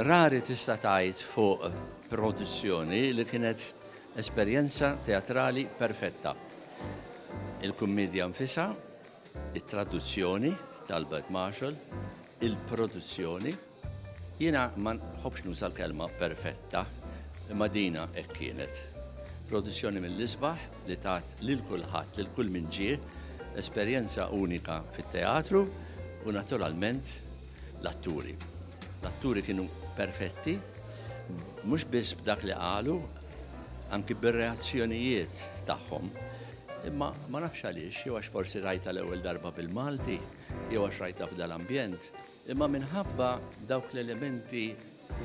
Rari tista' tgħid fuq produzzjoni li kienet esperjenza teatrali perfetta. Il-kummedja nfisha, it-traduzzjoni t'Albert Marshall, il-produzzjoni, jiena ma nħobbx nuża l-kelma perfetta, imma dina hekk kienet. Produzzjoni mill-isbaħ, li tat lil kulħadd, lil kull min ġie, esperjenza unika fit-teatru u naturalment l-atturi. L-atturi kienu perfetti, mhux biss b'dak li qalu, anki bir-reazzjonijiet tagħhom. Imma ma nafx għaliex, jew għax forsi rajta l-ewwel darba bil-Malti, jew għax rajta f'dal-ambjent, imma minħabba dawk l-elementi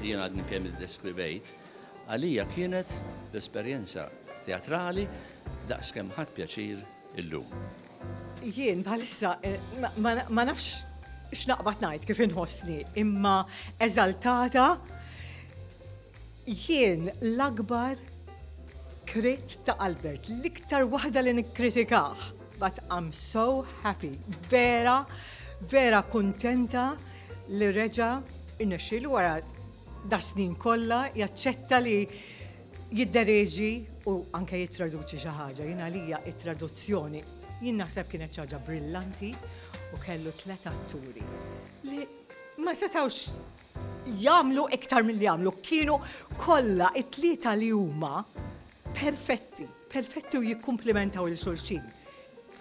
li jien għadni kemm iddeskrivejt, għalija kienet l-esperjenza teatrali daqs kemm ħadt pjaċir illum. Jien bħalissa eh, ma nafx x'naqbad ngħid kif inħossni, imma eżaltata jien l-akbar krit ta' Albert, l-iktar waħda li nikkritikaħ, but I'm so happy, vera, vera kontenta li reġa' rnexxielu wara das-snin kollha jaċċetta li jiddereġi u anke jittraduċi xi ħaġa. Jien għalija t-traduzzjoni jien naħseb kienet xi ħaġa brillanti u kellu tliet atturi li ma setgħux jagħmlu iktar milli jagħmlu. Kienu kollha it-tlieta li huma Perfetti, perfetti u jikkumplimentaw lil xulxin.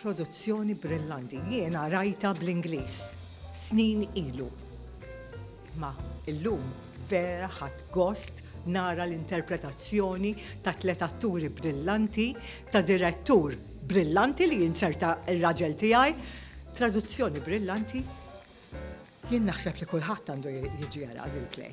Produzzjoni brillanti. Jiena rajtha bl-Ingliż snin ilu. Imma illum vera ħadt gost nara l-interpretazzjoni ta' tliet atturi brillanti, ta' direttur brillanti li jinserta r-raġel tiegħi, traduzzjoni brillanti. Jien naħseb li kulħadd għandu jiġi jara l-replay.